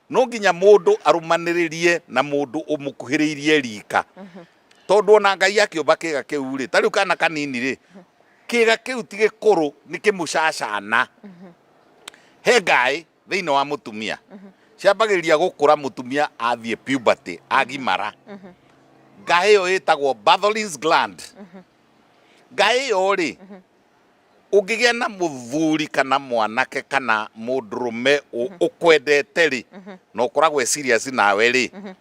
no nginya mundu arumaniririe na mundu umukuhiriirie rika tondu ona ngai akiumba kiga kiu ri tariu kana kanini ri kiga kiu ti gikuru ni kimucacana he ngai thĩinĩ wa mũtumia ciambagĩrĩria gũkũra mũtumia athiĩ puberty agimara ngaĩ ĩyo ĩtagwo Bartholin's gland ngaĩ ĩyo rĩ ũngĩgĩa na mũthuri kana mwanake kana mũndũrũme ũ- ũkwendete rĩ na ũkoragwo e serious nawe rĩ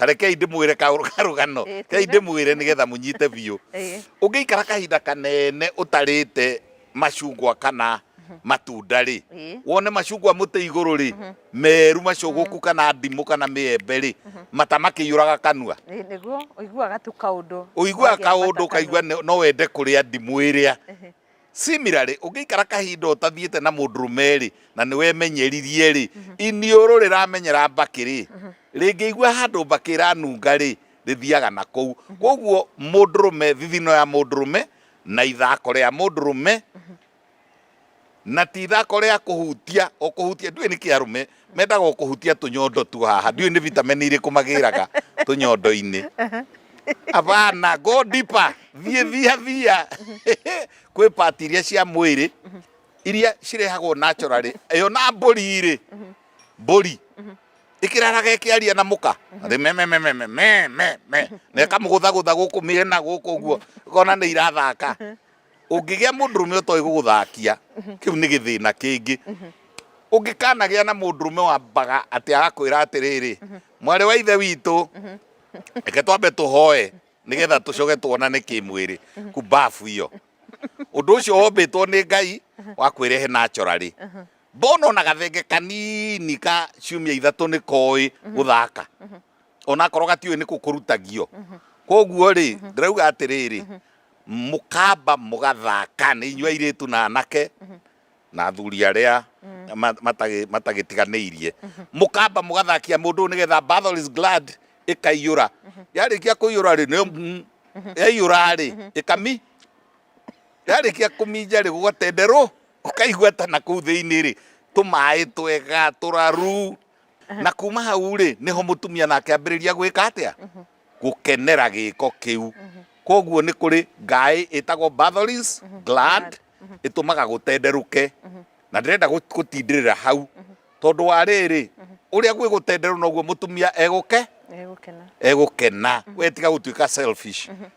tarekei ndĩmwĩre karũgano eh, kei ndĩmwĩre nĩgetha mũnyite biũ eh. ũngĩikara kahinda kanene ũtarĩte macungwa kana mhm. matunda rĩ eh. wone macungwa mũtĩ igũrũ rĩ mhm. meru macũgũku mhm. kana ndimũ kana mĩembe rĩ mata makĩiyũraga kanua ũiguaga kaũndũ ũkaigua no wende kũrĩa ndimũ ĩrĩa Similarly, ũngĩikara kahinda ũtathiĩte na mũndũrũme-rĩ, na nĩwemenyeririe-rĩ, mhm. iniũrũ rĩramenyera mbakĩ-rĩ, mhm. rĩngĩigua handũ mbakĩ ĩranunga-rĩ, rĩthiaga na kũu. Mhm. Kwoguo mũndũrũme, thithino ya mũndũrũme na ithako rĩa mũndũrũme na ti ithako rĩa kũhutia o kũhutia, ndiũĩ nĩkĩ arũme mendaga o kũhutia tũnyondo tu haha ndiũĩ nĩ vitameni irĩkũ magĩraga tũnyondo-inĩ abana go deeper thiĩ thia thia kwĩ pati iria cia mwĩrĩ iria cirehagwo naturally ĩyo na mbũri rĩ mbũri ĩkĩraraga ĩkĩaria na mũka rĩ me me me me me me me me na ĩkamũgũthagũtha gũkũ mĩena gũkũ ũguo ũkona nĩ irathaka ũngĩgĩa mũndũrũme ũtoĩ gũgũthakia kĩu nĩ gĩthĩna kĩngĩ ũngĩkanagĩa na mũndũrũme wambaga atĩ agakwĩra atĩrĩrĩ mwarĩ wa ithe witũ reke twambe tũhoe nĩgetha tũcoke tuonane kĩmwĩrĩ kumbabu iyo ũndũ ũcio wombĩtwo nĩ ngai wakwĩra he natural rĩ mbona ona gathenge kanini ka ciumia ithatũ nĩ koĩ gũthaka onakorwo gatiũĩ nĩ kũkũrutagio koguo rĩ ndĩrauga atĩrĩrĩ mũkamba mũgathaka nĩ inyuĩ airĩtu na anake na athuri arĩa ma- matagĩ- matagĩtiganĩirie mũkamba mũgathakia mũndũ ũyũ nĩgetha battle is glad ĩkaiyũra yarĩkia kũiyũra rĩ nĩ mm, yaiyũra rĩ ĩkami yarĩkia kũminja rĩ gũgatenderwo ũkaigua ta na kũu thĩinĩ rĩ tũmaĩ twega tũraru na kuma hau rĩ niho mutumia nake ambiriria gwika atia gukenera giko kiu koguo ni kuri ngai itagwo batholins glad itumaga gutenderuke na ndirenda gutindirira hau tondu wa riri uria gwi gutenderu noguo mutumia eguke egukena we tiga gutuika selfish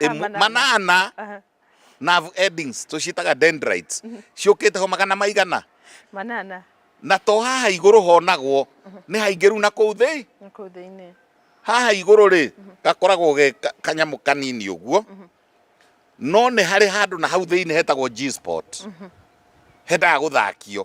e Ah, manana. manana Aha. nerve endings tũciĩtaga dendrites ciũkĩte ho magana maigana manana na to haha igũrũ honagwo nĩ haingĩru na kũu thĩ nĩ kũu thĩinĩ haha igũrũ rĩ gakoragwo ge ka- kanyamũ kanini ũguo no nĩ harĩ handũ na hau thĩinĩ hetagwo G-spot hendaga gũthakio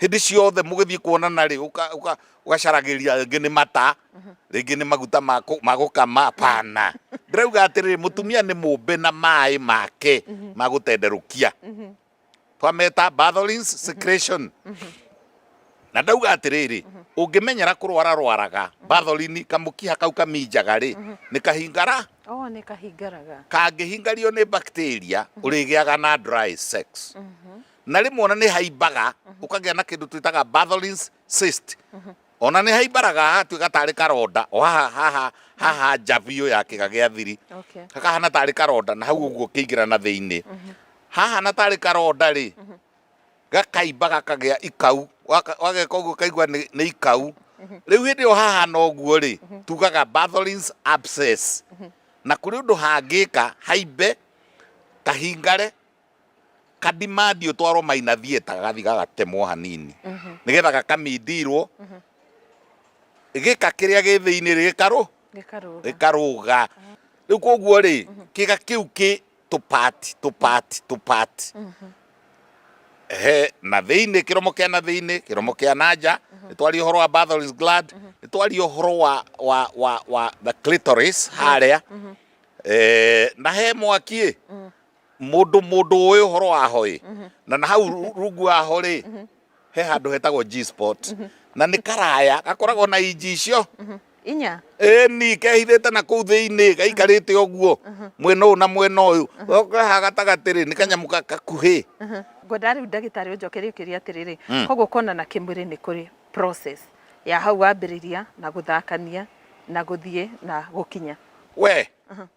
hĩndĩ ciothe mũgĩthiĩ kuonana rĩ ũgacaragĩria rĩngĩ nĩ mata rĩngĩ nĩ maguta ma gũkama pana ndĩrauga atĩrĩrĩ mũtumia nĩ mũmbe na maĩ make ma gũtenderũkia twameta batholins secretion na ndauga atĩrĩrĩ ũngĩmenyera kũrwara rwaraga batholini kamũkiha kau kaminjaga rĩ nĩ kahingara oh, kangĩhingario nĩ bacteria ũrĩgĩaga na dry sex na rĩmwe ona nĩ haimbaga mhm. ũkagĩa na kĩndũ twĩtaga Bartholin's cyst mhm. ona nĩ haimbaraga hatuĩka tarĩ karonda o haha haha haha nja biũ ya kĩga gĩa thiri hakahana tarĩ karonda na hau ũguo kĩingĩra na thĩinĩ mhm. hahana tarĩ karonda rĩ gakaimba gakagĩa ikau wageka ũguo kaigua nĩ ikau rĩu hĩndĩ ĩyo hahana ũguo rĩ tugaga Bartholin's abscess na kũrĩ ũndũ hangĩka haimbe kahingare kadimandi ũtwarwo maina thieta gathi gagatemwo hanini nĩgetha gakamindirwo gĩka kĩrĩa gĩ thĩinĩ rĩ gĩkarũ gĩkarũga ah. rĩu koguo rĩ kĩga kĩu kĩ tũpati tũpati tũpati he na thĩinĩ kĩromo kĩa na thĩinĩ kĩromo kĩa na nja nĩ twari ũhoro wa Bartholin's gland nĩ twari ũhoro wa wa wa wa the clitoris harĩa eh, na he mwaki ĩ mm. Mũndũ mũndũ ũĩ ũhoro waho ĩ mhm. na na hau rungu waho rĩ mhm. he handũ hetagwo G spot mhm. na nĩ karaya gakoragwo na inji icio inya ĩni kehithĩte na kũu thĩinĩ gaikarĩte ũguo mwena ũyũ na mwena ũyũ ha gatagatĩ rĩ nĩ kanyamũ gakuhĩ ngwenda rĩu ndagĩtarĩ ũnjokerie ũkĩria atĩrĩrĩ hmm. koguo kuonana kĩmwĩrĩ nĩ kũrĩ process ya hau wambĩrĩria na gũthakania na gũthiĩ na gũkinya we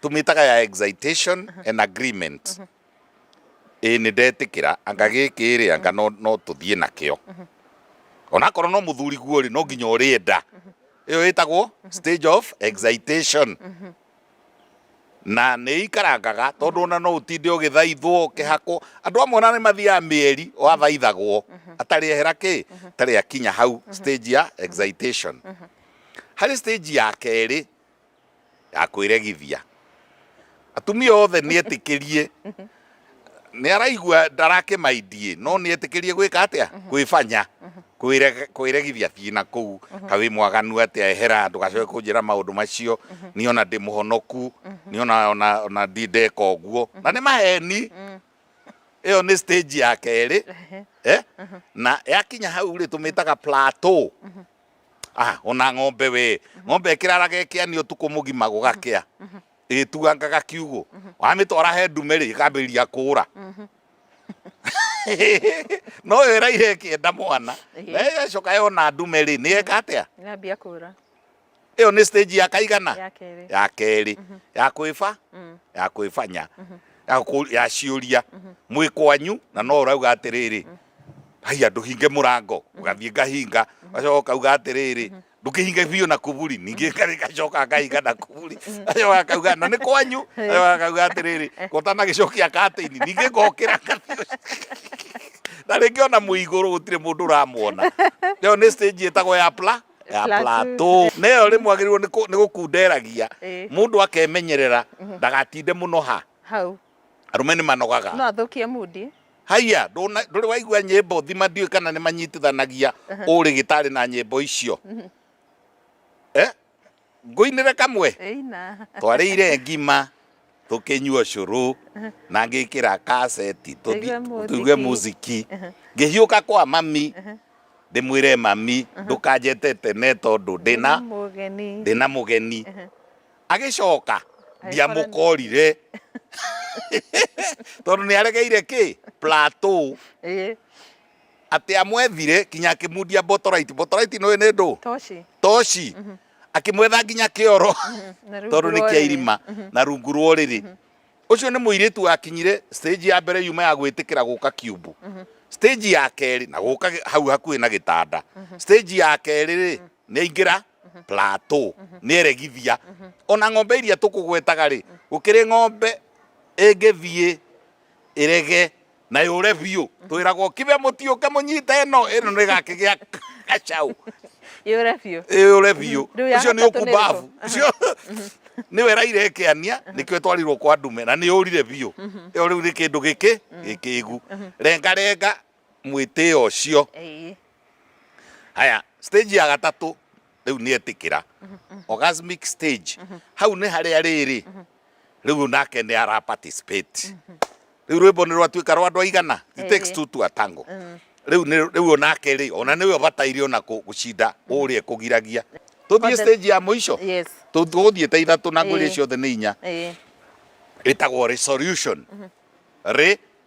tumitaga ya excitation and agreement ĩ nĩ ndetĩkĩra anga gĩkĩ rĩ anga no no tũthiĩ nakĩo onakorwo no mũthuri guo rĩ no nginya ũrĩenda ĩyo ĩtagwo stage of excitation na nĩ ikarangaga tondũ ona no ũtinde ũgĩthaithwo ũkĩhakwo andũ amwe ona nĩ mathiaga mĩeri wathaithagwo atarĩ ehera kĩ atarĩ akinya hau stage ya excitation harĩ stage ya kerĩ ya kwĩregithia atumia othe nĩetĩkĩrie nĩaraigua ndarakĩmaindie no nĩetĩkĩrie gwĩka atĩa kwĩbanya kwĩre- kwĩregithia thiĩ na kũu kawĩ mwaganu atĩa ehera ndũgacoke kũnjĩra maũndũ macio niĩ ona ndĩ mũhonoku niĩ ona- ona- ona ndi ndeka ũguo na nĩ maheni ĩyo nĩ stage ya kerĩ eh? na yakinya hau rĩ tũmĩtaga plateau Ah, ona ng'ombe we ng'ombe ĩkĩraraga ĩkĩani ũtukũ mũgima gũgakĩa ĩgĩtuangaga kiugũ wamĩtwara he ndume rĩ ĩkambĩrĩria kũũra no yo ĩraire ĩkĩenda mwana Ehe. na ĩgacoka yona ndume rĩ nĩ eka atĩa Ngambia kũra ĩyo nĩ stage ya kaigana ya kerĩ. ya kerĩ ya kwĩba Mm. ya kwĩbanya ya kũ- ya ciũria mwĩ kwanyu na no ũrauga atĩrĩrĩ haiya ndũhinge mũrango mhm. ũgathiĩ ngahinga mhm. gacoka ũkauga atĩrĩrĩ mhm. ndũkĩhinge biũ na kuburi ningĩ gacoka ngahinga na kuburi gacoka akauga na nĩ kwanyu gacoka akauga atĩrĩrĩ gotana gĩcokia katĩini ningĩ ngokĩra na rĩngĩ ona mwĩ igũrũ gũtirĩ mũndũ ũramuona ĩyo nĩ stage ĩtagwo ya pla ya plateau na ĩyo rĩmwe agĩrĩirwo nĩ gũkunderagia mũndũ akemenyerera ndagatinde mũno ha hau arũme nĩ manogaga no athũkie mundi Haiya, ndũrĩ waigua nyĩmbo thima ndiũĩ kana nĩ manyitithanagia ũrĩ gĩtarĩ na nyĩmbo icio. Eh? Ngũinĩre kamwe? Twarĩire ngima, tũkĩnyua cũrũ, na ngĩkĩra kaseti, tũigue muziki. Ngĩhiũka kwa mami, ndĩmwĩre mami, ndũkanjete tene tondũ ndĩna mũgeni. agĩcoka ndiamũkorire tondũ nĩ aregeire kĩ plateau atĩ amwethire kinya akĩmundia botorite botorite nĩ nĩ ndũ toci mhm. akĩmwetha nginya kĩoro mhm. tondũ nĩ kĩa irima mhm. na rungu rwa ũrĩrĩ ũcio nĩ mũirĩtu wakinyire stage ya mbere yuma ya gwĩtĩkĩra gũka kiumbu stage ya kerĩ na gũka hau hakuhĩ na gĩtanda stage ya kerĩ rĩ Nĩaingĩra plateau, nĩeregithia. Ona ng'ombe iria tũkũgwetaga-rĩ, gũkĩrĩ ng'ombe ĩngĩthiĩ ĩrege na yũre biũ, twĩragwo kibe mũtiũke mũnyite ĩno, ĩno nĩĩgakĩgĩa gacaũ, Yũre biũ. yũre biũ. Rĩu ya Ũcio nĩ gatatũ nĩ ũkumbabu. ĩrĩkũ? Ũcio nĩwe ĩraire ĩkĩania, nĩkĩo ĩtwarirwo kwa ndume, na nĩyũrire biũ. Ĩyo rĩu nĩ kĩndũ gĩkĩ, gĩkĩgu. Rengarenga, mwĩtĩo ũcio Ĩĩ. haya stage ya gatatũ rĩu nĩ etĩkĩra orgasmic stage hau nĩ harĩa rĩrĩ rĩu nake nĩ ara participate rĩu rwĩmbo nĩ rwatuĩka rwa andũ aigana it takes Ĩĩ. two to a tango rĩu nĩ- rĩu onake rĩ ona nĩwe ũbataire ona kũ- gũcinda ũrĩa kũgiragia tũthiĩ Kwanza- stage ya mũico Yes. Tũ- tũgũthiĩte ithatũ na ngwĩrĩ Ĩĩ. ciothe nĩ inya Ĩĩ. ĩtagwo resolution rĩ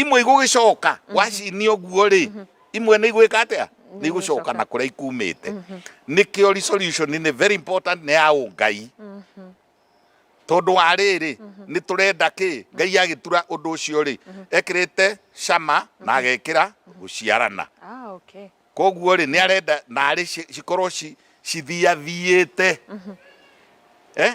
imwe igũgĩcoka mhm. wacinia ũguo rĩ mhm. imwe nĩ igwĩka atĩa nĩ igũcoka na kũrĩa ikumĩte mhm. nĩkĩo resolution nĩ very important nĩ ya ũngai tondũ wa rĩrĩ nĩ tũrenda kĩ ngai agĩtura ũndũ ũcio rĩ ekĩrĩte cama na agekĩra gũciarana ah, koguo rĩ nĩ arenda narĩ cikorwo cithiathiĩte eh?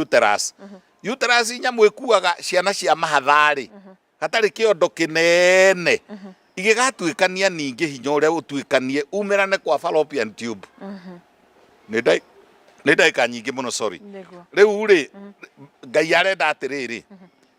uterus uterus nyamũ ĩkuaga ciana cia mahatharĩ hatarĩ kĩondo kĩnene igĩgatuĩkania ningĩ hinya ũrĩa ũtuĩkanie umerane kwa fallopian tube nĩ ndagĩka nyingĩ mũno sorry rĩu rĩ ngai arenda atĩrĩrĩ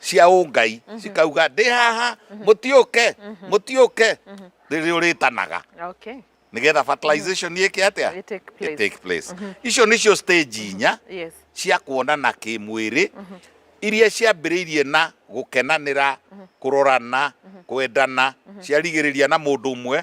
cia ũngai mhm. cikauga ndĩ haha mhm. mũtiũke mhm. mũtiũke rĩrĩ ũrĩtanaga nĩgetha fertilization nĩ ĩke atĩa take place icio nĩcio stage inya cia kuonana kĩmwĩrĩ iria ciambĩrĩirie na gũkenanĩra kũrorana kwendana ciarigĩrĩria na mũndũ ũmwe